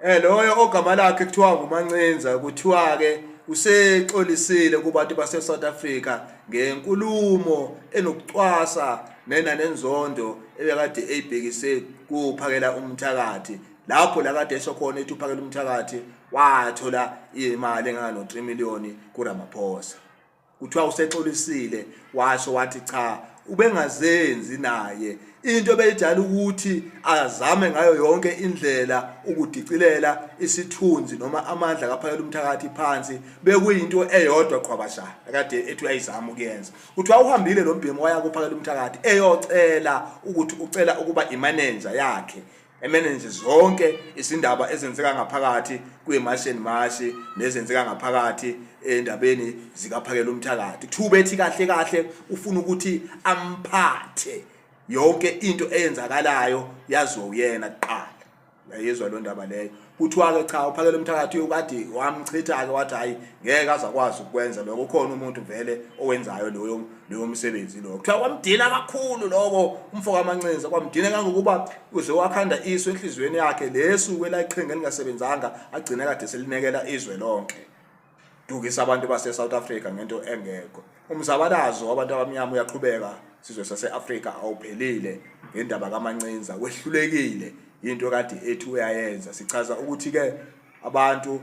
Eh loyo ogama lakhe kuthiwa nguMancinza kuthiwa ke usexolisile kubantu base South Africa ngenkulumo enokucwasa nena nenzondo ebekade eyibhekise kuphakela umthakathi lapho la kade esho khona ethi uphakela umthakathi wathola imali engano 3 million kuRamaphosa kuthiwa usexolisile washo wathi cha ubengazenzi naye into beyijala ukuthi azame ngayo yonke indlela ukudicilela isithunzi noma amandla kaphakela umthakathi phansi bekuyinto eyodwa qhwabasha akade ethi uyayizama ukuyenza kuthiwa uhambile lo mbhemu waya kuphakela umthakathi eyocela ukuthi ucela ukuba imanenja yakhe emene nje zonke izindaba ezenzeka ngaphakathi kwiMartian Marsh nezenzeka ngaphakathi endabeni zikaphakela umthakathi kuthiwa ubethi kahle kahle ufuna ukuthi amphathe yonke into eyenzakalayo yaziwe uyena kuqala yayizwa lo ndaba leyo kuthiwa-ke cha uphakele umthakathi uyokade wamchitha-ke wathi hhayi ngeke azakwazi ukukwenza lokho ukhona umuntu vele owenzayo loyo loyo msebenzi loyo kuthiwa kwamdina kakhulu loko umfo kamancinza kwamdina kangokuba uze wakhanda iso enhliziyweni yakhe lesu kwelayiqhinga elingasebenzanga agcine kade selinekela izwe lonke dukisa abantu base South Africa ngento engekho umzabalazo wabantu abamnyama uyaqhubeka sizwe sase-afrika awuphelile ngendaba kamancinza wehlulekile yinto kade ethi uyayenza sichaza ukuthi-ke abantu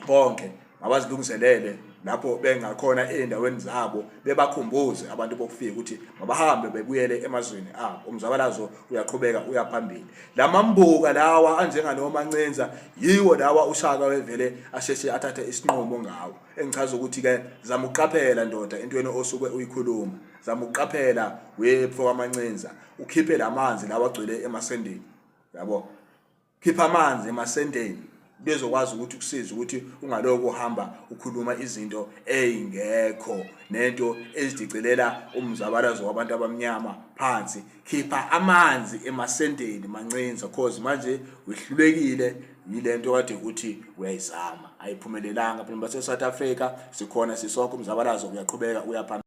bonke mabazilungiselele lapho bengakhona ey'ndaweni zabo bebakhumbuze abantu bokufika ukuthi mabahambe bebuyele emazweni abo umzabalazo uyaqhubeka uyaphambili lamambuka lawa anjengalowo mancinza yiwo lawa ushaka wevele asheshe athathe isinqumo ngawo engichaza ukuthi ke zama uqaphela ndoda entweni osuke uyikhuluma zama uqaphela wepho wamancinza ukhiphe lamanzi lawa agcwele emasendeni yabo khipha amanzi emasendeni bezokwazi ukuthi kusize ukuthi ungaloko uhamba ukhuluma izinto ezingekho nento ezidicilela umzabalazo wabantu abamnyama phansi khipha amanzi emasendeni mancinza cause manje wehlulekile yilento kade ukuthi uyayizama ayiphumelelanga phela baseSouth Africa sikhona sisokho umzabalazo uyaqhubeka uyaphambili